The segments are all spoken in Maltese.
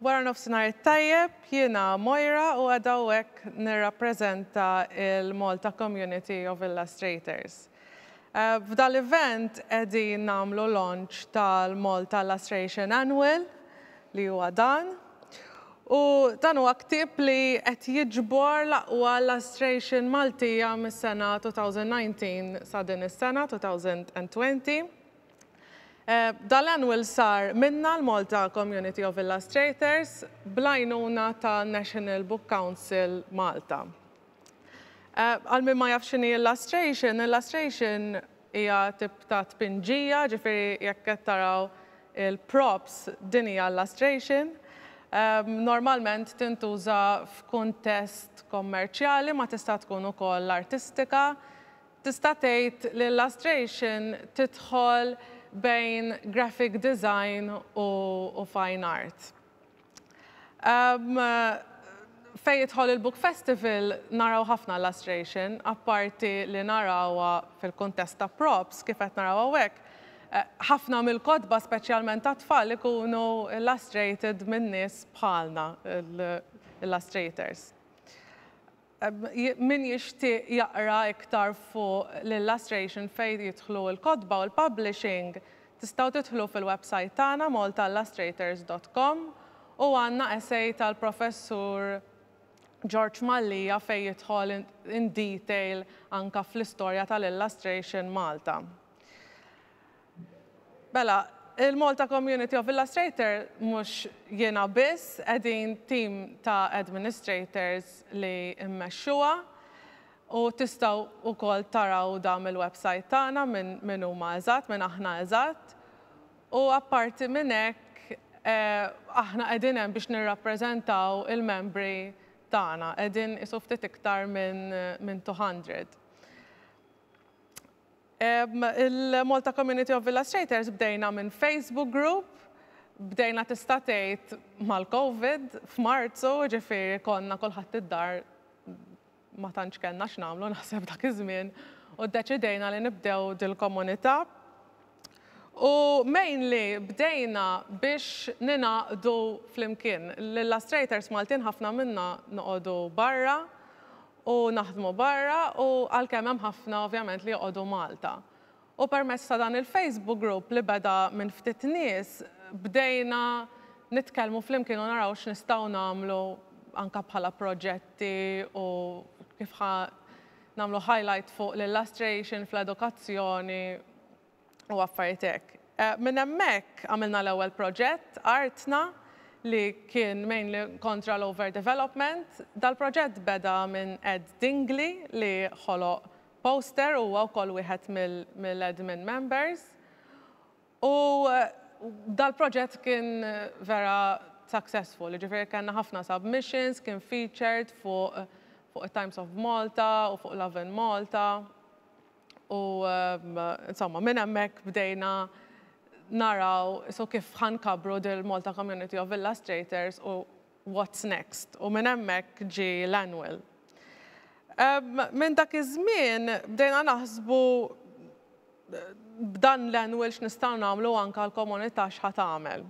Wara nofsinhar it-tajjeb, jiena Mojra u għadawek nirrappreżenta il-Malta Community of Illustrators. F'dan l-event qegħdin nagħmlu launch tal-Malta Lustration Annual li huwa dan. U dan huwa ktieb li qed jiġbor l-aqwa lustration Maltija mis-sena 2019 sa din is-sena 2020. Dan l-annual sar minna l-Malta Community of Illustrators bl-għajnuna ta' National Book Council Malta. Eh, għal min ma jaf x'inhi l-lastration, il-lastration hija tip ta' tpinġija, ġifieri jekk qed taraw il-props din hija l-lastration. Ehm, normalment tintuża f'kuntest kommerċjali ma tista' tkun ukoll artistika. Tista' tgħid li l-lastration tidħol bejn graphic design u, u fine art. Fejn jidħol il-Book Festival naraw ħafna lustration, apparti li narawha fil-kuntest ta' props kif qed naraw hawnhekk, ħafna mill-kotba speċjalment tat-tfal ikunu illustrated minn nies bħalna, l-illustrators. Min jixtieq jaqra iktar fuq l-illustration fejn jidħlu l-kotba u l-publishing tistgħu tidħlu fil-websajt tagħna maltaillustrators dot com u għandna essay tal-Professur George Mallia fejn jidħol in detail anke fl-istorja tal-illustration Malta. Mela, il-Malta Community of Illustrator mhux jiena biss, qegħdin tim ta' administrators li mmexxuha u tistgħu wkoll taraw dan mill-website tagħna min min huma eżatt, min aħna eżatt. U apparti minn hekk aħna qegħdin hemm biex nirrappreżentaw il-membri tagħna, qegħdin qisu ftit iktar minn minn 200. Il-Malta Community of Illustrators bdejna minn Facebook group, bdejna tista' tgħid mal-Covid f'Marzu, ġifieri konna kulħadd id-dar ma tantx kellna x'nagħmlu naħseb dak iż-żmien u ddeċidejna li nibdew dil-komunità. U mainly bdejna biex ningħaqdu flimkien. L-illustrators Maltin ħafna minna noqogħdu barra u naħdmu barra u għalkemm hemm ħafna ovvjament li joqogħdu Malta. U permezz ta' dan il-Facebook group li beda minn ftit nies bdejna nitkellmu flimkien u naraw x'nistgħu nagħmlu anke bħala proġetti u kif ħa nagħmlu highlight fuq l-illustration fl-edukazzjoni. u affarijiet hekk. Minn hemmhekk għamilna l-ewwel proġett, artna, li kien mainly kontra l-over development. Dal-proġett beda minn Ed Dingli li ħoloq poster u huwa wkoll wieħed mill-admin members. U dal-proġett kien vera successful, jiġifieri kellna ħafna submissions, kien featured fuq it-Times of Malta u fuq Lovin Malta. U insomma, minn hemmhekk bdejna naraw isu kif ħa nkabbru dil-Malta Community of Illustrators u what's next. U minn hemmhekk ġie l-Annual. Minn dak iż-żmien bdejna naħsbu b'dan l-Annual x'nistgħu nagħmlu anke għall-komunità x'ħa tagħmel.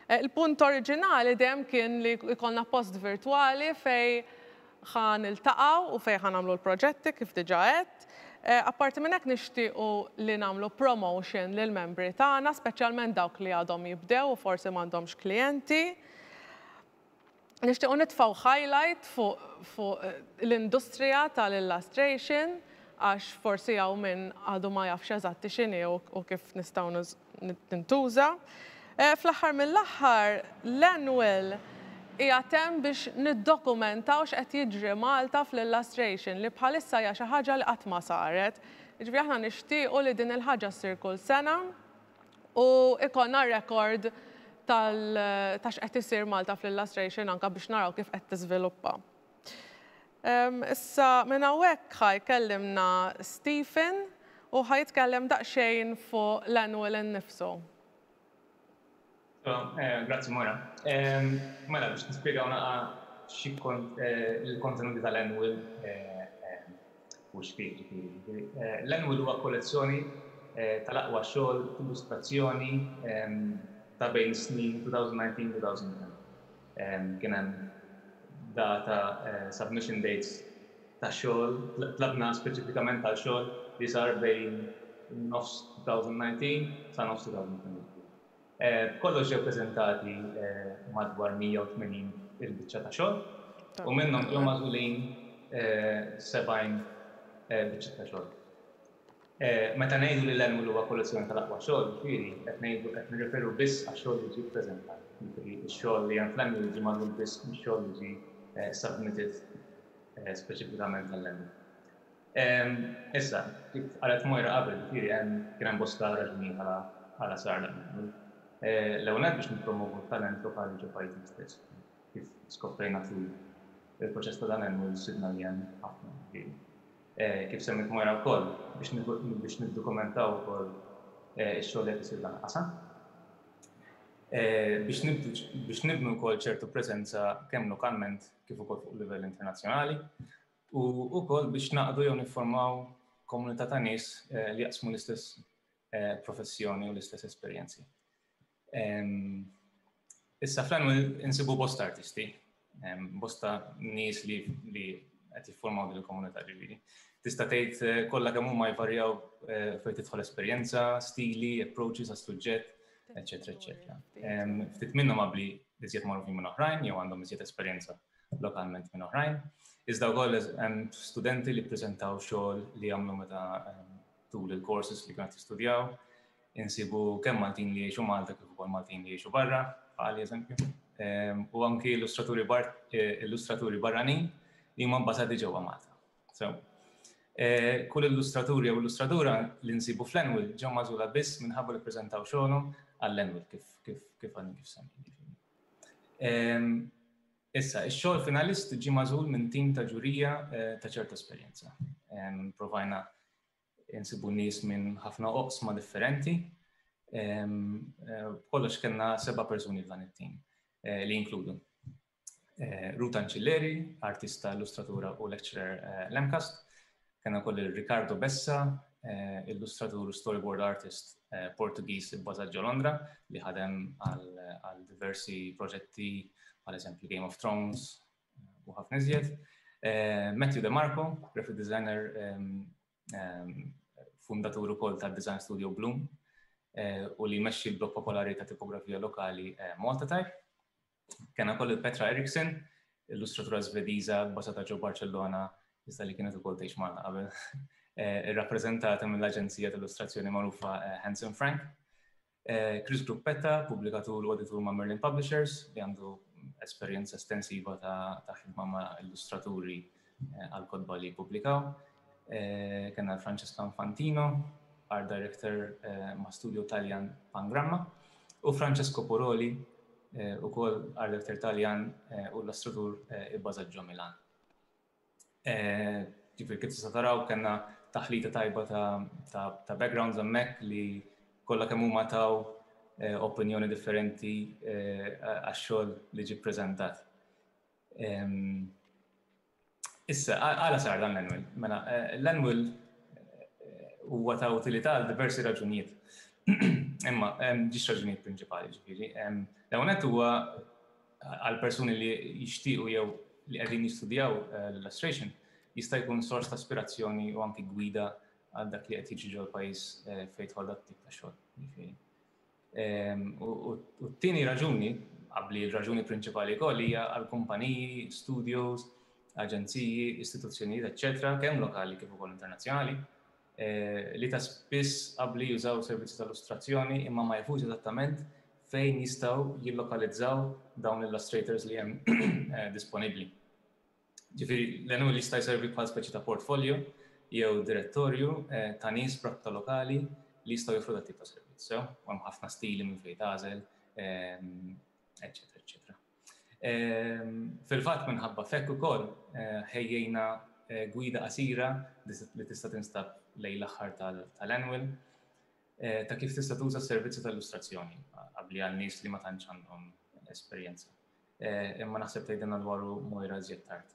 Eh, il-punt oriġinali dejjem kien li jkollna post virtwali fej ħa niltaqgħu u fej ħa nagħmlu l-proġetti kif diġà għedt. Eh, apparti minn hekk nixtiequ li nagħmlu promotion lil membri tagħna, speċjalment dawk li għadhom jibdew u forsi m'għandhomx klijenti. Nixtiequ nitfgħu highlight fuq l-industrija tal-illustration għax forsi hawn min għadu ma jafx eżatti x'inhi u kif nistgħu tintuża. Fl-aħħar mill-aħħar, l-Annual qiegħed hemm biex niddokumentaw x'qed jiġri Malta fl-illustration li bħalissa hija xi ħaġa li qatt ma saret. Jiġifieri aħna nixtiequ li din il-ħaġa ssir kull sena. u jkollna rekord tal ta' x'qed isir Malta fl-illustration anke biex naraw kif qed tiżviluppa. Issa minn hawnhekk ħa jkellimna Stephen u ħa jitkellem daqsxejn fuq l-annual innifsu. Grazzi Moira. Mela biex nispjegaw naqa' xi kont il-kontenuti tal-Annual u x'fih ġifieri. L-Annual huwa kollezzjoni tal-aqwa xogħol t'illustrazzjoni ta' bejn is-snin 2019-2020. Kien hemm data, submission dates, ta' xogħol, tlabna speċifikament għal xogħol li sar bejn nofs 2019 sa nofs 2022. B'kollox ġew preżentati madwar 180 il-biċċa ta' xogħol u minnhom ġew magħżulin 70 biċċa ta' xogħol. Meta ngħidu li l-Annual huwa kollezzjoni tal-aqwa xogħol, jiġifieri qed ngħidu qed nirreferu biss għax-xogħol li ġie ppreżentat, jiġifieri x-xogħol li hemm fl-Annual ġie magħżul biss mix-xogħol li ġie submitted speċifikament għall-Annual. Issa, kif qalet Moira qabel, jiġifieri hemm, kien hemm bosta raġunijiet għala għala sar dan il-għamil. L-ewwel nett biex nippromovu t-talent lokali ġo pajjiżna stess. Kif skoprejna tul il-proċess ta' dan il-għemil sibna li hemm ħafna jiġifieri. Kif semmiet Moira wkoll, biex biex niddukumentaw ukoll ix-xogħol li qed isir f'dan il-qasam. Biex nibdu biex nibnu wkoll ċertu preżenza kemm lokalment kif ukoll fuq livell internazzjonali. u wkoll biex naqdu jew nifformaw komunità ta' nies li jaqsmu l-istess professjoni u l-istess esperjenzi. Issa fl-annual insibu bosta artisti, bosta nies li qed jiffurmaw din il-komunità ġifieri. Tista' tgħid eh, kollha kemm huma jvarjaw eh, fejn tidħol esperjenza, stili, approaches għas-suġġett, eċetera, eċetera. Ftit minnhom qabli iżjed magħrufin minn oħrajn jew għandhom iżjed esperjenza lokalment minn oħrajn. Iżda wkoll hemm studenti li ppreżentaw xogħol li għamlu meta tul il-courses li kienet jistudjaw. Insibu kemm Maltin li jiexu Malta kif ukoll Maltin li jiexu barra, għal eżempju. Ehm, u anki illustraturi bar eh, illustraturi barranin li huma bbażati ġewwa Malta. So, eh, kull illustratur jew illustratura li nsibu fl-Enwil ġew mażula biss minħabba li ppreżentaw xogħolhom għall-Enwil kif kif kif għandi kif semmi. Issa, ix-xogħol finalist ġie magħżul minn tim ta' ġurija eh, ta' ċerta esperjenza. Provajna insibu nies minn ħafna oqsma differenti. Eh, kollox kellna seba' persuni f'dan it-tim eh, li jinkludu. Ruta Ancilleri, artista, illustratura u lecturer l-Emcast, Kena wkoll il Ricardo Bessa, eh, illustratur u storyboard artist eh, Portugiż ibbażat ġo Londra li ħadem għal diversi proġetti għal eżempju Game of Thrones eh, u ħafna iżjed. Matthew De Marco, graphic designer ehm, ehm, fundatur ukoll ta' Design Studio Bloom u li jmexxi l-blog popolari ta' tipografija lokali Malta Type. Kena kollu Petra Eriksson, illustratura Svediża basata ġo Barcellona, iżda li kienet ukoll tgħix Malta qabel, eh, irrappreżentata mill-aġenzija tal-illustrazzjoni magħrufa eh, Hanson Frank. Eh, Chris Gruppetta, pubblikatur u editur ma' Merlin Publishers, li għandu esperjenza estensiva ta' ħidma ma' illustraturi għal-kotba li jippubblikaw. Kenna l-Francesca Infantino, art director ma' studio Taljan Pangramma, u Francesco Puroli, u kol art director Taljan u l-astrutur ibbażat ġo Milan. Ġifir kif tista' taraw kenna taħlita tajba ta' backgrounds hemmhekk li kollha kemm huma taw opinjoni differenti għax-xogħol li ġie ppreżentat. Issa, għala sar dan l-annual? Mela, eh, l-annual eh, huwa ta' utilità għal diversi raġunijiet. Imma, ġiex raġunijiet prinċipali ġifiri. L-għonet huwa għal persuni li jixtiequ jew li qegħdin jistudjaw eh, l-illustration jista' jkun sors ta' aspirazzjoni u anki gwida għal dak li qed jiġi ġol pajjiż fejn tħol dak tip ta' xogħol. Ehm, u t-tieni raġuni, qabli l-raġuni prinċipali wkoll hija għal kumpaniji, studios, aġenziji, istituzzjonijiet, eċċetera, kemm lokali kif ukoll internazzjonali, eh, li ta' spiss qabli jużaw servizzi tal-illustrazzjoni imma ma jafux eżattament fejn jistgħu jillokalizzaw dawn l-illustrators li hemm eh, disponibbli. Ġifieri, l-għenwol jista' jservi bħal speċi ta' portfolio jew direttorju ta' nies b'rabta lokali li jistgħu joffru dat tip ta' servizz, sew? U hemm ħafna stili minn fejn tagħżel, eċċetera, eċċetera. Fil-fatt, minħabba f'hekk ukoll, ħejjejna gwida qasira li tista' tinstab lejn l-aħħar tal-għenwol ta' kif tista' tuża s-servizzi ta' illustrazzjoni, qabbli għal nies li ma tantx għandhom esperjenza. Eh, imma naħseb tgħidilna dwaru Mojra żjed tard.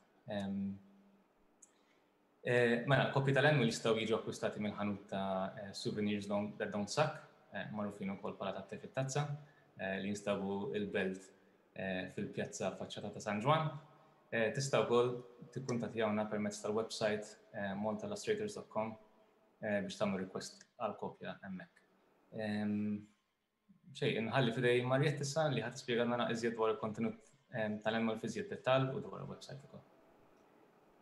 Eh, mela, kopji tal-annual jistgħu jiġu akkwistati minn ħanut ta' eh, souvenirs that don't suck, magħrufin ukoll bħala ta' tef tazza li jinstabu il-belt fil-pjazza faċċata ta' San Ġwan. Tista' wkoll tikkuntattjawna permezz tal-website montalastrators.com biex tagħmlu request għal kopja hemmhekk. Xej, inħalli fidej Mariette issa li ħadd spjega nara iżjed dwar il-kontenut ehm, tal-annual fiżjed dettal u dwar il-website ukoll.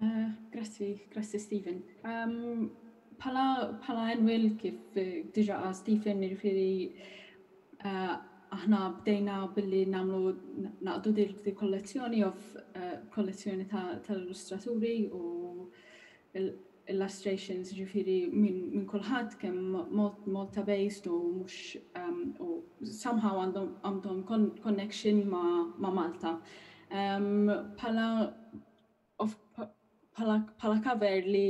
Eh, grazzi, grazzi Stephen. Ehm, pala, pala annual kif eh, diġa għal Stephen nirfiri eh, aħna bdejna billi namlu naqdu dir di kollezzjoni of kollezzjoni tal-illustraturi u illustrations ġifieri minn min kulħadd kemm Malta based u mhux um, u somehow għandhom għandhom connection ma', ma Malta. Um, pala of, pala, pala cover li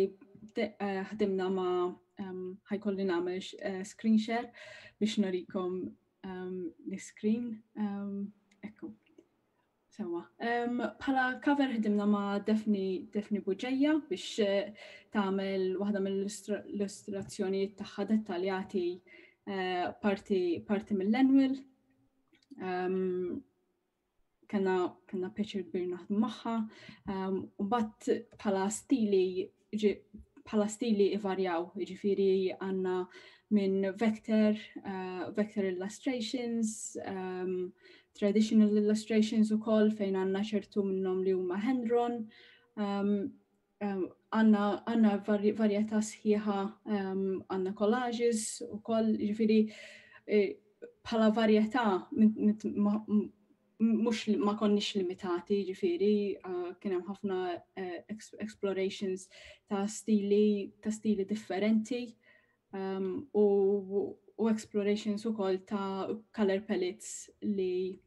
eh, ħdimna ma um, ħajkolli nagħmel uh, screen share biex norikom um, l-screen. Um, ekku. Sewwa. Bħala cover ħdimna ma' Daphne Daphne Bugeja biex tagħmel waħda mill-illustrazzjonijiet tagħha dettaljati parti parti mill-annual. Kellna kellna pjaċir kbir naħdmu magħha. Mbagħad bħala stili bħala stili ivarjaw, ġifiri għanna minn vector, uh, vector illustrations, um, traditional illustrations u koll fejn għanna ċertu minnom li huma hand-drawn, um, um, għanna għanna varjetà sħiħa um, għanna collages u koll ġifiri e, bħala varjetà mhux ma konniex limitati, ġifieri kien hemm ħafna explorations ta' stili ta' stili differenti u u explorations ukoll ta' color palettes li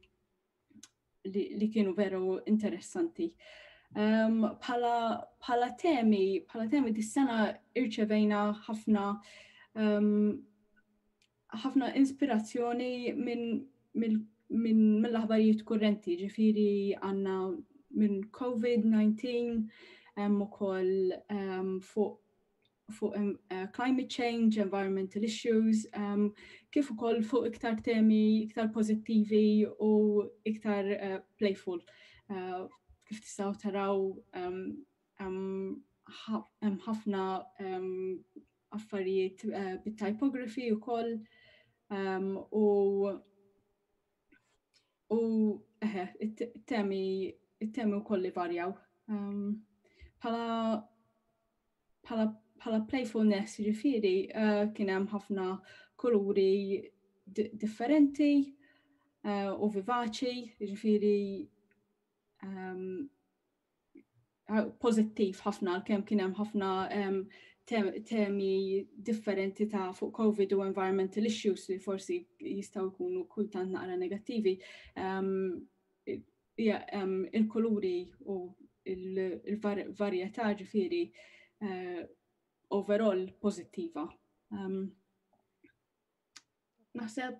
li kienu veru interessanti. Bħala temi, bħala temi dis-sena irċevejna ħafna ħafna inspirazzjoni minn mill minn mill-aħbarijiet kurrenti, ġifiri għanna minn COVID-19, hemm ukoll um, fuq fuq um, uh, climate change, environmental issues, um, kif ukoll fuq iktar temi iktar pożittivi u iktar uh, playful. Uh, kif tistgħu taraw um, um, ħafna um, affarijiet eh, bit-typography ukoll ehm, u u eh, it-temi it-temi wkoll li varjaw. Ehm, bħala bħala bħala playfulness ġifiri eh, kien hemm ħafna kuluri differenti eh, u vivaċi ġifiri ehm, pożittiv ħafna għalkemm kien hemm ħafna temi differenti ta' fuq COVID u environmental issues li forsi jistgħu jkunu kultant naqra negattivi. Il-kuluri u l-varjetà ġifieri eh, overall pożittiva. Naħseb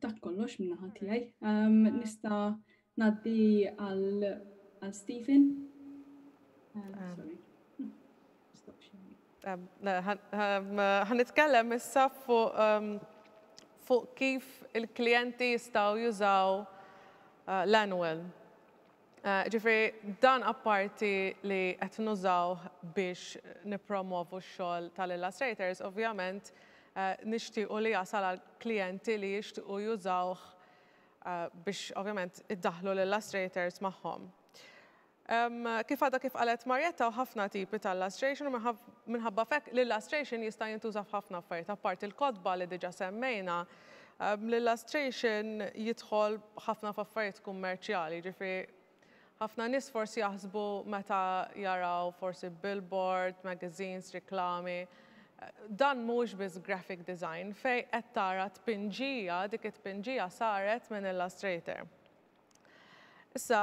dak kollox minna ħatijaj. Um, nista naddi għal għal Stephen. Um, ah. sorry. Għanitkellem um, um, issa fuq um, fuq kif il-klienti jistaw jużaw uh, l-annual Ġifieri dan apparti li qed nużawh biex nippromovu x-xogħol tal-illustrators, ovvjament nixtiequ li jasal għal klijenti li jixtiequ jużawh biex ovvjament iddaħħlu l-illustrators magħhom. Kif għadha kif qalet Marietta hawn ħafna tipi ta' illustration u minħabba f'hekk l-illustration jista' jintuża f'ħafna affarijiet apparti l-kotba li diġà semmejna L-illustration jidħol ħafna f'affarijiet kummerċjali, jiġifieri ħafna nies forsi jaħsbu meta jaraw forsi billboard, magazines, riklami, dan mhuwiex biss graphic design fejn qed tara tpinġija, dik it-tpinġija saret minn illustrator. Issa,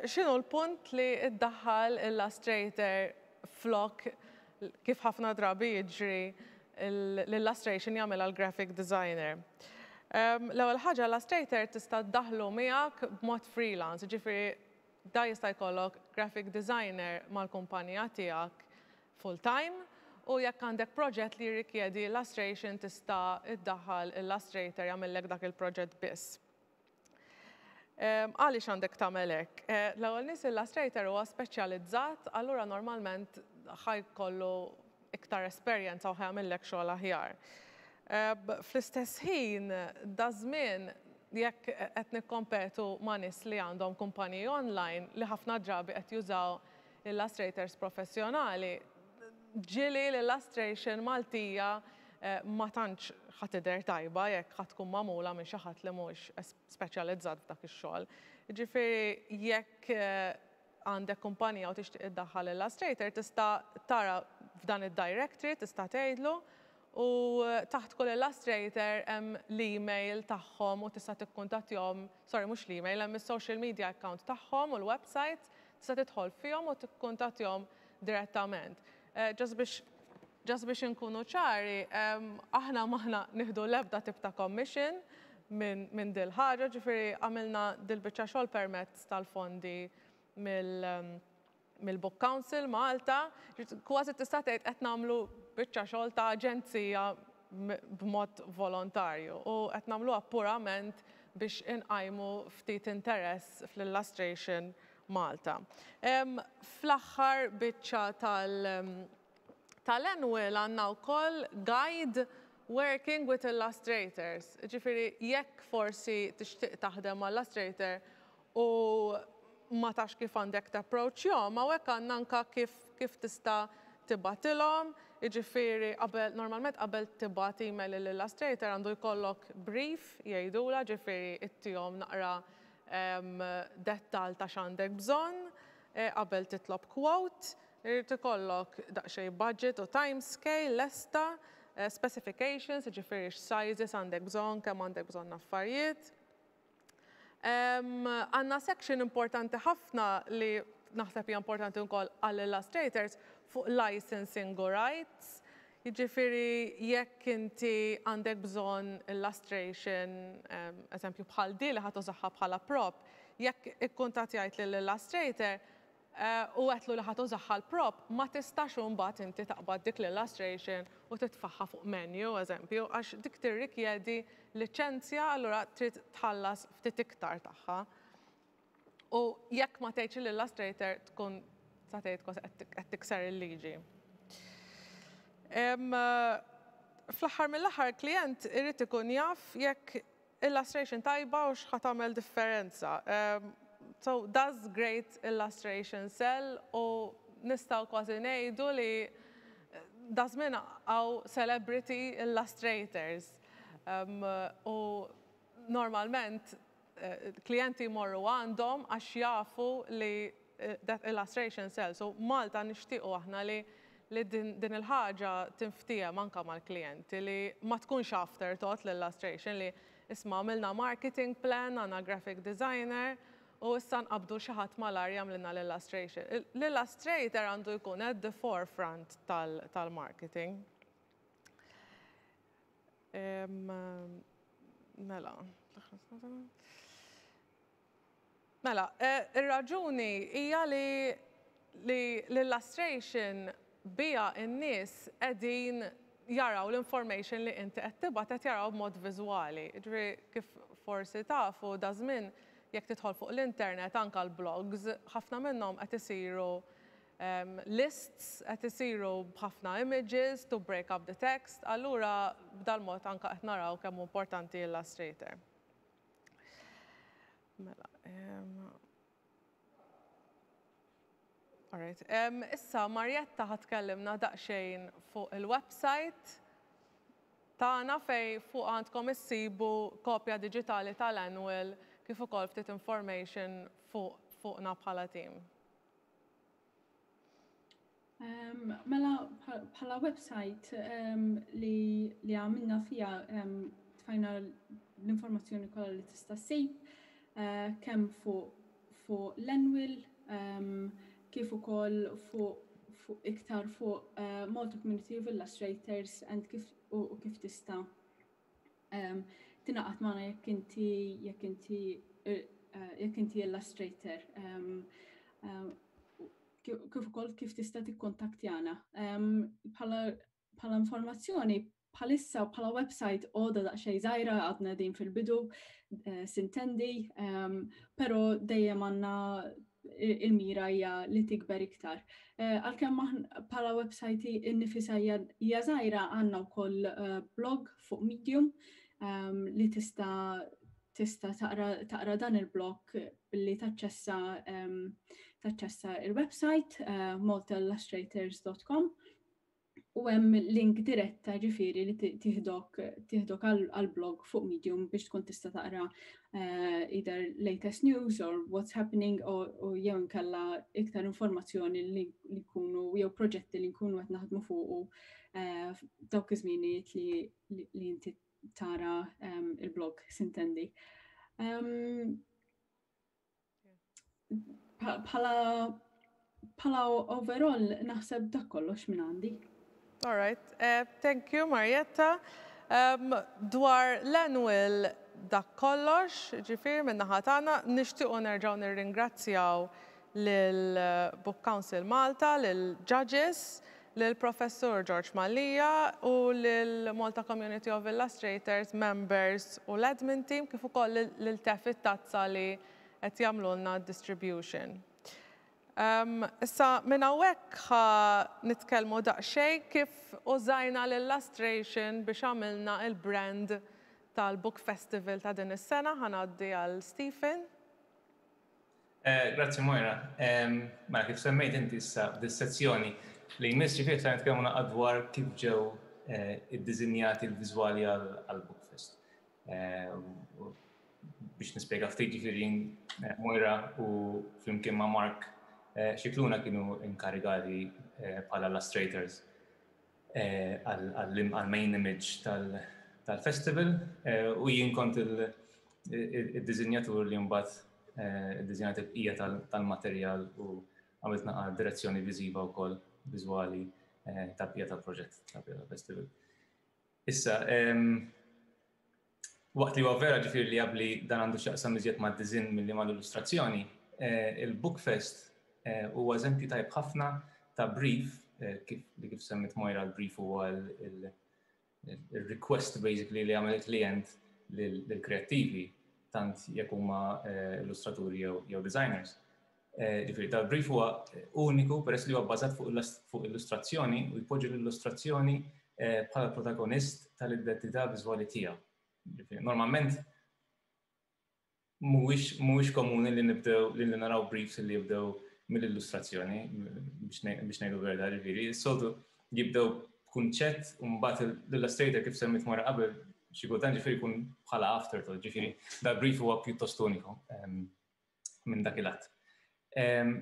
x'inhu l-punt li ddaħħal il-lustrator flok kif ħafna drabi jiġri l-illustration jagħmilha l-graphic designer? L-ewwel ħaġa l-lustrator tista' ddaħħlu miegħek b'mod freelance, jiġifieri da jista' jkollok graphic designer mal-kumpanija tiegħek full time u jekk għandek proġett li jirrikjedi lustration tista' ddaħħal il-lustrator jagħmillek dak il-proġett biss. Għaliex għandek tagħmel hekk? L-ewwel nies illustrator huwa speċjalizzat, allura normalment ħaj kollu iktar esperjenza u ħaj jagħmillek xogħol aħjar. Fl-istess ħin, daż-żmien jekk qed nikkompetu ma' nies li għandhom kumpaniji online li ħafna drabi qed jużaw Illustrators professjonali, ġieli l-illustration Maltija ma tantx ħa tidher tajba jekk ħa tkun magħmula minn xi ħadd li mhux speċjalizzat f'dak ix-xogħol. Jiġifieri jekk għandek kumpanija u tixtieq iddaħħal illustrator tista' tara f'dan id-directory tista' tgħidlu u taħt kull illustrator hemm l-email tagħhom u tista' tikkuntattjahom, sorry mhux l-email hemm is-social media account tagħhom u l-website Tista' tidħol fihom u tikkuntattjahom direttament. Just biex just biex inkunu ċari, aħna m'aħna nieħdu l-ebda tip ta' commission minn min dil-ħaġa, ġifieri għamilna dil-biċċa xogħol permezz tal-fondi mill mill-Book Council Malta. Kważi tista' tgħid qed nagħmlu biċċa xogħol ta' aġenzija b'mod volontarju u qed nagħmluha purament biex inqajmu ftit interess fl-Illustration Malta. Fl-aħħar biċċa tal tal-Annual għandna wkoll Guide Working with Illustrators, jiġifieri jekk forsi tixtieq taħdem ma' Illustrator u ma tafx kif għandek tapproachjhom, hawnhekk għandna anke kif kif tista' tibgħatilhom, jiġifieri qabel normalment qabel tibgħat email lil Illustrator għandu jkollok brief jgħidulha, jiġifieri ittihom naqra dettall ta' x'għandek bżonn qabel titlob quote, irid ikollok daqsxejn budget u time scale lesta, specifications, jiġifieri x'sizes għandek bżonn, kemm għandek bżonn affarijiet. Għandna section importanti ħafna li naħseb hija importanti wkoll għall-illustrators fuq licensing u rights. Jiġifieri jekk inti għandek bżonn illustration, eżempju bħal din li ħa tużaha bħala prop, jekk ikkuntattjajt lill-illustrator, u għedtlu li ħa tużah għall-prop, ma tistax u mbagħad inti taqbad dik l-illustration u titfagħha fuq menu, eżempju, għax dik tirrikjedi liċenzja allura trid tħallas ftit iktar tagħha. U jekk ma tgħidx l-illustrator tkun sa tgħid kważi qed tikser il-liġi. Fl-aħħar mill-aħħar il-klijent irid ikun jaf jekk Illustration tajba u x'ħa tagħmel differenza. So does great illustration sell u nistgħu kważi ngħidu li daż-żmien hawn celebrity illustrators u normalment klijenti jmorru għandhom għax jafu li Death Illustration Cells u Malta nixtiequ aħna li li din din il-ħaġa tinftiehem anke mal-klijenti li ma tkunx afterthought l-illustration li isma' għamilna marketing plan, għandna graphic designer u issa nqabbdu xi ħadd malajr jagħmlilna l-illustration. L-illustrator għandu jkun at the forefront tal tal-marketing. Mela. Mela, ir-raġuni hija li li l-illustration biha n-nies qegħdin jaraw l-information li inti qed tibgħat qed jarawha b'mod viżwali. Jiġifieri kif forsi tafu daż-żmien jekk tidħol fuq l-internet anke l-blogs ħafna minnhom qed isiru lists, qed isiru b'ħafna images to break up the text, allura b'dal-mod anke qed naraw kemm hu importanti illustrator. Mela, Alright, issa Marjetta ħatkellimna daqsxejn fuq il-website tagħna fej fuq għandkom issibu kopja diġitali tal-annual kif ukoll ftit information fuq fuqna bħala team. Um, mela bħala website um, li, li għamilna fija um, tfajna l-informazzjoni kollha li tista' ssib uh, kemm fuq fu l-annual um, kif ukoll fuq fu iktar fuq uh, Malta Community of Illustrators and kif u, u kif tista' tingħaqad magħna jekk inti jekk inti jekk inti illustrator kif ukoll kif tista' tikkontaktjana. Bħala informazzjoni bħalissa bħala website għoda daqsxejn żgħira għadna din fil-bidu sintendi, però dejjem għandna il-mira hija li tikber iktar. Eh, għalkemm bħala website innifisha hija żgħira għandna wkoll eh, blog fuq Medium ehm, li tista' tista taqra dan il-blog billi taċċessa ehm, taċċessa il-website eh, maltillustrators.com u hemm link diretta ġifieri li tieħdok tieħdok għall-blog fuq Medium biex tkun tista' taqra eh, either latest news or what's happening u jew inkella iktar informazzjoni li jkunu jew proġetti li nkunu qed naħdmu fuqu eh, dawk iż-żmienijiet li inti tara ehm, il-blog sintendi. Ehm, Bħala bħala overall naħseb dak kollox minn għandi. All right. Uh, thank you, Marietta. Um, dwar l-annual dak kollox, ġifir minna ħatana, nishtiqu nerġaw nirringrazzjaw l-Book eh, Council Malta, l-Judges, lill-Professur George Mallia u lill-Malta Community of Illustrators members u l-admin team kif ukoll lil Tef it-Tazza li qed jagħmlulna d-distribution. Issa minn hawnhekk ħa nitkellmu daqsxejn kif użajna l-illustration biex għamilna l-brand tal-Book Festival ta' din is-sena. Ħa ngħaddi għal Stephen. Eh, grazzi Moira. Mela kif semmejt inti issa dis-sezzjoni li jmiss ġifieri se nitkellmu naqgħad dwar kif ġew eh, iddiżinjati l-viżwali għal Bookfest. Eh, biex nispjega ftit ġifieri Moira u flimkien ma' Mark xikluna kienu inkarigati bħala illustrators għall-main image tal-festival u jien kont il-dizinjatur li mbagħad id-dizinjat il-bqija tal-materjal u għamilt naqa direzzjoni viżiva wkoll viżwali tal-bqija tal-proġett tal-bqija tal-festival. Issa, Waqt li huwa vera ġifieri li jabbli dan għandu x'jaqsam iżjed mad-diżinn milli mal-illustrazzjoni, il-Bookfest huwa eżempju tajjeb ħafna ta' brief, kif li kif semmiet Moira l-brief huwa il-request basically li jagħmel il-klijent lill-kreattivi tant jekk huma illustraturi jew designers. Eh, ġifiri, dal-brief huwa eh, uniku peress li huwa bbażat fuq illustrazzjoni u jpoġġi l-illustrazzjoni eh, bħala protagonist tal-identità viżwali tiegħu. Normalment mhuwiex komuni li nibdew li naraw briefs li jibdew mill-illustrazzjoni biex ngħidu verda ġifieri, soltu jibdew kunċett u mbagħad l-illustrator kif semmit mara qabel xi kultant ġifieri jkun bħala afterthought, ġifieri dal-brief huwa pjuttost uniku. Ehm, minn dak il-att.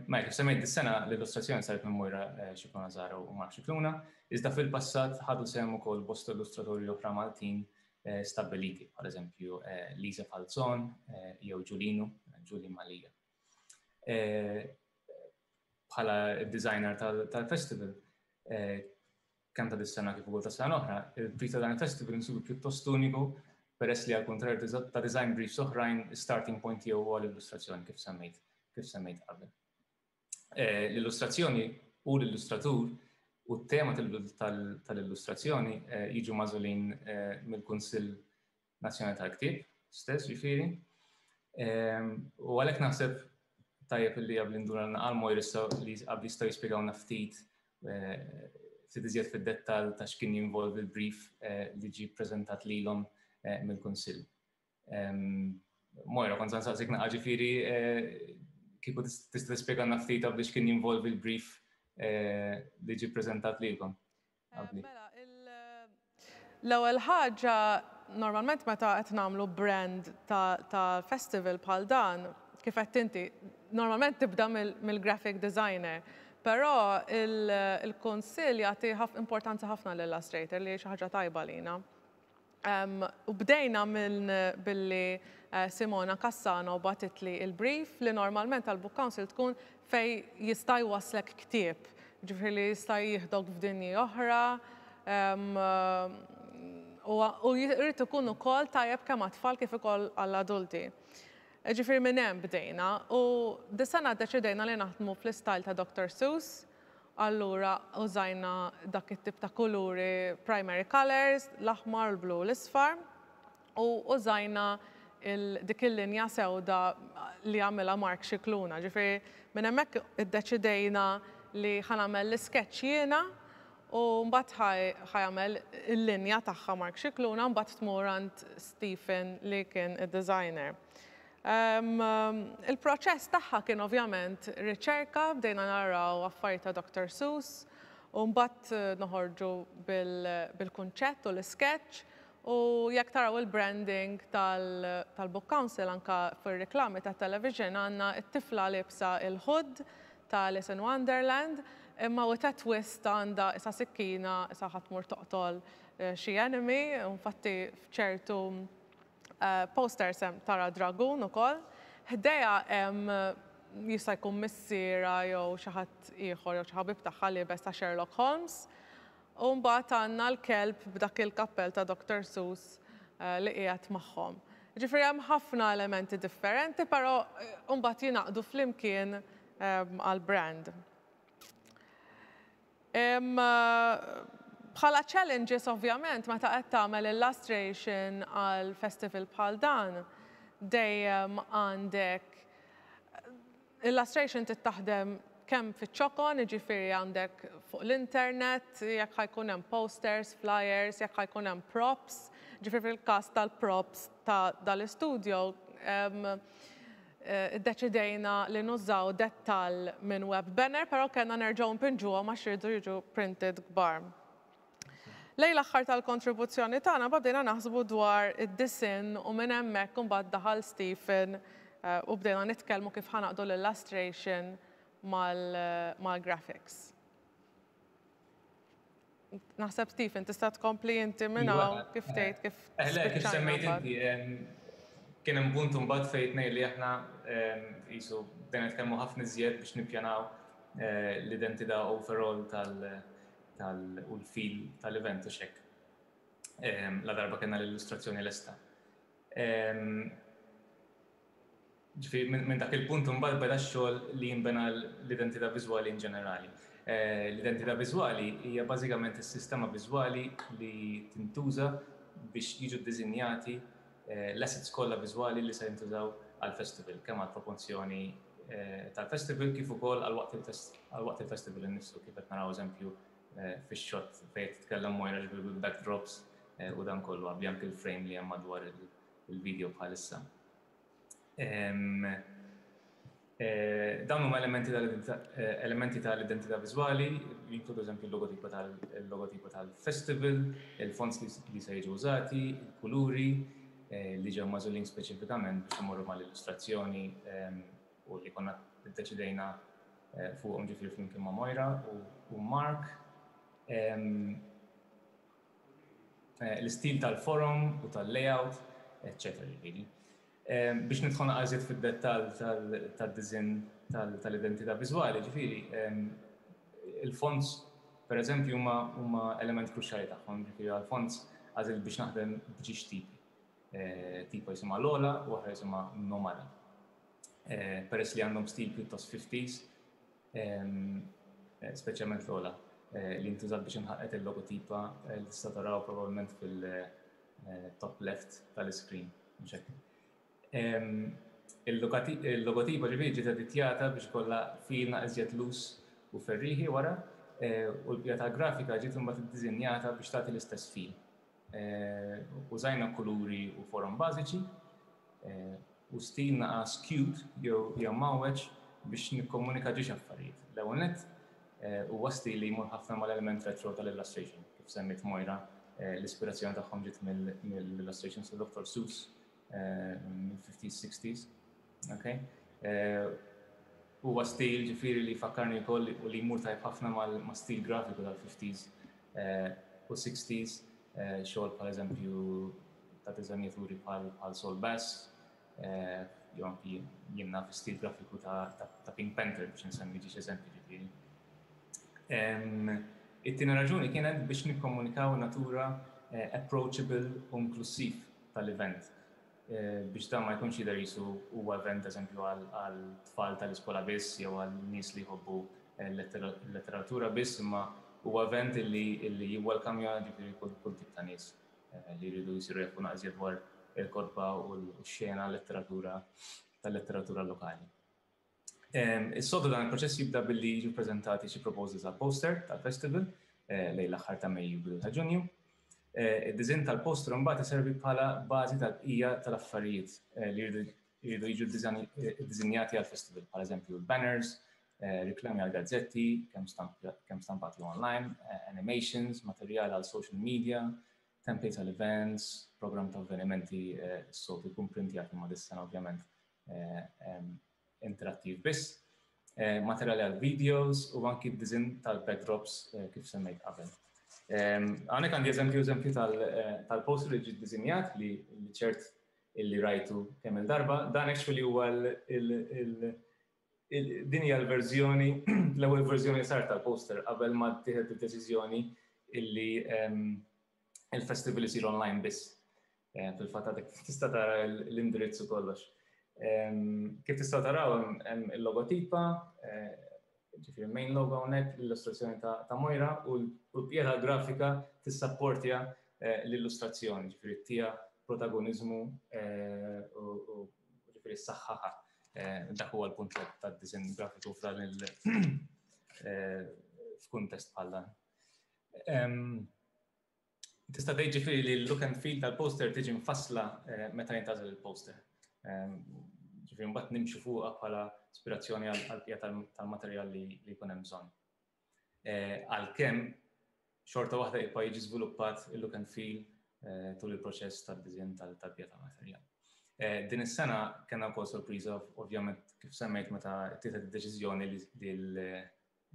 Ma jekk semmejt dis-sena l-illustrazzjoni saret minn Mojra Xikluna Zara u Mark Xikluna, iżda fil-passat ħadu sehem ukoll bosta illustratori oħra Maltin stabbiliti, bħal eżempju Lisa Falzon jew Ġulinu, Ġuli Malija. Bħala d-designer tal-festival, kemm ta' dis-sena kif ukoll tas-sena l-oħra, il-priz ta' dan il-festival insibu pjuttost uniku peress li għall-kuntrarju ta' design briefs oħrajn, is-starting point tiegħu huwa l-illustrazzjoni kif semmejt kif semmejt qabel. Eh, l-illustrazzjoni u l-illustratur u t-tema tal-illustrazzjoni eh, jiġu mażulin eh, mill-Kunsill nazzjonali tal-ktieb stess ġifieri. U għalhekk naħseb tajjeb li għabli nduna naqal mojr issa li għabli jistaw jispjegawna ftit eh, ftit iżjed fid-dettal ta' x'kien jinvolvi l-brief eh, li ġi preżentat lilhom eh, mill-Kunsill. Mojra, kont saqsik naqqa ġifieri kieku tista' tispjegana ftit għabli x'kien jinvolvi l-brief li ġi preżentat lilkom. Mela, l-ewwel ħaġa, normalment meta qed nagħmlu brand ta' festival bħal dan, kif għedt inti, normalment tibda mill-graphic designer. Però il-Kunsill jagħti importanza ħafna lill-Illustrator li hi xi ħaġa tajba għalina. U bdejna minn billi Simona Cassano bagħtitli l-brief li normalment għall-Book Council tkun fejn jista' jwasslek ktieb, ġifieri li jista' jieħdok f'dinji oħra u jrid ikun ukoll tajjeb kemm għat-tfal kif ukoll għall-adulti. Ġifieri minn hemm bdejna u dis-sena ddeċidejna li naħdmu fl-istyle ta' Doctor Seuss, Allura użajna dak it-tip ta' kuluri primary colours, l-aħmar u l-blu u l-isfar, u użajna il dik il-linja sewda li għamilha Mark Scicluna. Ġifieri minn hemmhekk iddeċidejna li ħa nagħmel l-iskeċċ jiena u mbagħad ħa ħa jagħmel il-linja tagħha Mark Scicluna u mbagħad tmur għand Stephen li kien id-designer. Il-proċess tagħha kien ovvjament riċerka, bdejna naraw affarijiet ta' Doctor Seuss u mbagħad noħorġu bil-kunċett u l-iskeċċ u jekk taraw il-branding tal-Book Council anke fir-riklami tat-television għandna t-tifla liebsa l-hood ta' Alice in Wonderland imma with a twist għandha isa' sikkina isa' ħa tmur toqtol xi enemy u infatti f'ċertu Posters hemm tara dragun ukoll. Ħdejha hemm jista' jkun missierha jew xi ħadd ieħor jew xi ħabib tagħha liebes ta' Sherlock Holmes. U mbagħad għandna l-kelb b'dak il-kappell ta' Doctor Seuss li qiegħed magħhom. Jiġifieri hemm ħafna elementi differenti però mbagħad jingħaqdu flimkien għall-brand. Bħala challenges ovvjament meta qed tagħmel illustration għal festival bħal dan dejjem għandek illustration trid taħdem kemm fiċ-ċokon, jiġifieri għandek fuq l-internet, jekk ħa jkun hemm posters, flyers, jekk ħa jkun hemm props, jiġifieri fil-każ tal-props ta' dal-istudjo, Iddeċidejna li nużaw dettall minn web banner però kellna nerġgħu npinġuhom għax iridu jiġu printed kbar. Lejn l-aħħar tal-kontribuzzjoni tagħna imbagħad bdejna naħsbu dwar id-disinn u minn hemmhekk imbagħad daħal Stephen u bdejna nitkellmu kif ħa naqdu l-illustration mal-graphics. Naħseb Stephen, tista' tkompli inti minn iva. hawn kif tgħid kif. Eħle, kif semmejt inti, kien hemm punt imbagħad fejn ngħid li aħna qisu bdejna nitkellmu ħafna iżjed biex nippjanaw eh, l-identità overall tal u l-fil tal-event u xek. La darba kena l-illustrazzjoni l-esta. Ġifieri minn min dak il-punt imbagħad beda x-xogħol li jinbena l-identità viżwali in ġenerali. L-identità viżwali hija bażikament is-sistema viżwali li tintuża biex jiġu ddiżinjati l-assets kollha viżwali li se jintużaw għall-festival, kemm għall-proporzjoni tal-festival kif ukoll għal waqt għal waqt il-festival innifsu kif qed naraw eżempju fix-shot fejn qed titkellem Moira ġifieri bil-backdrops u dan kollu, anke l-frame li hemm madwar il-video bħalissa. Dawn huma elementi tal-identità viżwali, jinkludu eżempju l-logotipa tal-festival, il-fonts li se jiġu użati, il-kuluri li ġew magħżulin speċifikament biex imorru mal-illustrazzjoni u li konna ddeċidejna fuqhom ġifieri flimkien ma' Moira u Mark. eh, l-istil tal-forum u tal-layout, eccetera ġifieri. Eh, biex nidħol naqażiet fid-dettall tad-diżin tal-identità viżwali, ġifieri eh, il-fonts per eżempju huma element kruċjali tagħhom, ġifieri għal-fonts għażil biex naħdem bġiex tipi. Tipa jisimha l-ola u oħra jisimha nomali. Peress li għandhom stil pjuttost 50s, speċjalment l-ola eh, li ntużat biex inħaqqet il-logotipa eh, li tista' taraw probabbilment fil-top eh, left tal-iskrin. Il-logotipa ġivi ġiet editjata biex kollha fina iżjed lus u ferriħi wara u l-pjata grafika ġiet imbagħad iddiżinjata biex tagħti l-istess fil. Użajna kuluri u forom bażiċi u stil naqas cute jew mgħawweġ biex nikkomunika ġiex affarijiet. L-ewwel nett, huwa stil li jmur ħafna mal-element retro tal-illustration. Kif semmiet Moira, l-ispirazzjoni tagħhom ġiet mill-illustrations ta' Doktor Seuss mill-50s, 60s. Okay? Huwa stil ġifiri li fakkarni wkoll u li jmur tajb ħafna ma' stil grafiku tal-50s u 60s, xogħol bħal eżempju ta' diżanjaturi bħal Sol Bass, jew anki jenna fi stil grafiku ta' Pink Panther biex nsemmi ġiex eżempju ġifiri. It-tina raġuni kienet biex nikkomunikaw natura eh, approachable u inklusiv tal-event biex dan ma jkunx jidher jisu huwa event eżempju għal tfal tal-iskola biss jew għal nies li jħobbu l-letteratura biss imma huwa event li jiwwelkamja ġifieri kull tip ta' nies li jridu jsiru jafu naqżjed dwar il-kotba u l-xena letteratura tal-letteratura lokali. Is-soltu dan il-proċess jibda billi jiġu ppreżentati xi proposals għal poster tal-festival lejn l-aħħar ta' Mejju bidu ta' Ġunju. Id-diżinn tal-poster imbagħad iservi bħala bażi tal-bqija tal-affarijiet li jridu jiġu ddiżinjati għall-festival, bħal eżempju banners, riklami għal gazzetti, kemm stampati online, animations, materjal għal social media, templates għal events, programm ta' avvenimenti, s-soltu jkun printjat imma dis-sena ovvjament interattiv biss, materjali għal videos u anki d-dizin tal-backdrops kif semmejt qabel. Għanek għandi eżempju eżempju tal-poster li ġid dizinjat li ċert illi rajtu kemm il-darba, dan actually huwa din hija l-verżjoni, l-ewwel verżjoni sar tal-poster qabel ma tieħed id-deċiżjoni illi il-festival isir online biss. Eh, fil-fatt għadek tista' tara l-indirizz u kollox. Ehm, kif tista' taraw hemm il-logotipa, eh, ġifieri main logo hawnhekk l-illustrazzjoni ta' Mojra u l-pjera grafika tissapportja eh, l-illustrazzjoni, ġifieri tija protagonizmu u ġifieri s-saħħaħa. Dak huwa l-punt tad-disinn grafiku f'dan il- f'kuntest bħal dan. Tista' tgħid ġifieri li l-look and feel tal-poster tiġi mfassla eh, meta jintażel il-poster. Ġifieri mbagħad nimxu fuqha bħala ispirazzjoni għall-qija tal-materjal li jkun hemm bżonn. Eh, għalkemm xorta waħda jibqa' jiġi żviluppat il-look and feel eh, tul il-proċess tad-diżinn tal-qija tal-materjal. Din is-sena kellna wkoll sorpriża ovvjament kif semmejt meta tieħed id-deċiżjoni li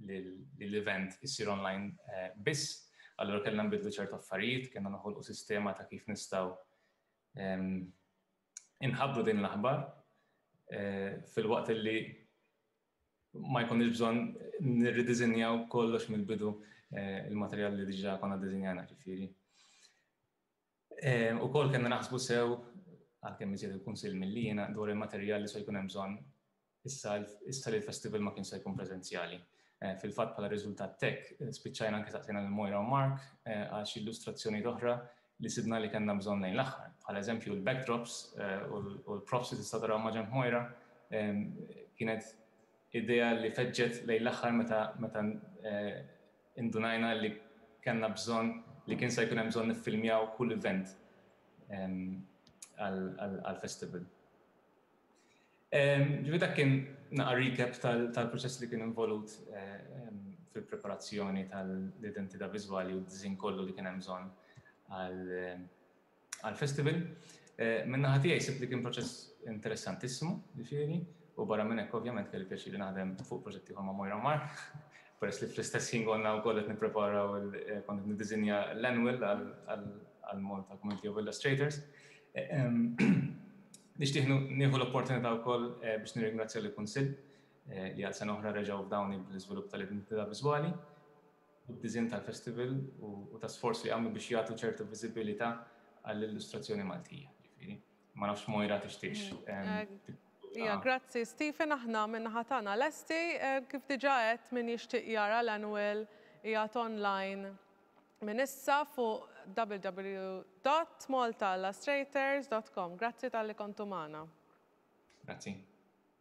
li l-event isir online eh, biss, allura kellna nbidlu ċertu affarijiet, kellna noħolqu sistema ta' kif nistgħu ehm, inħabru din l-aħbar eh, fil-waqt li ma jkunx bżonn nirridizinjaw kollox mill-bidu eh, il-materjal li diġà konna dizinjana ġifieri. Eh, u kol kena naħsbu sew, għalkemm iżjed il-kunsil mill-lina, dwar il-materjal li se jkun hemm bżonn issa li l-festival ma kien se jkun preżenzjali. Eh, fil-fatt bħala riżultat tek, eh, spiċċajna anke saqsejna l Mojra u Mark għax illustrazzjoni oħra li sidna li kellna bżonn lejn l-aħħar. Bħal eżempju l-backdrops u l-props li tista' taraw maġem Mojra kienet idea li feġġet lejn l-aħħar meta Indunajna li kellna bżonn li kien se jkun hemm bżonn niffilmjaw kull event għall-festival. Ġifieri dak kien naqa' recap tal-proċess li kien involut fil-preparazzjoni tal-identità viżwali u d-disinn kollu li kien hemm bżonn għal għall-festival. Minn naħa tiegħi sibt li kien proċess interessantissimu, ġifieri, u barra minn hekk ovvjament kelli pjaċir li naħdem fuq proġett ieħor ma' Moira Mark, peress li fl-istess ħin konna wkoll qed nippreparaw kont qed niddiżinja l-annual għall-Malta Community of Illustrators. Nixtieq nieħu l-opportunità wkoll biex nirringrazzja lill-Kunsill li għal sena oħra reġgħu fdawni bl-iżvilupp tal-identità viżwali u d-disinn tal-festival u ta' sforz li għamlu biex jagħtu ċertu viżibilità għall-illustrazzjoni Maltija. Ġifieri, ma nafx Moira tixtieqx. Mm. Ija, grazzi Stephen, aħna minn ħatana lesti, eh, kif diġa għedt minn jixtieq jara l-annual jgħat online minn issa fuq www.maltaillustrators.com. Grazzi tal-li kontu maħna. Grazzi.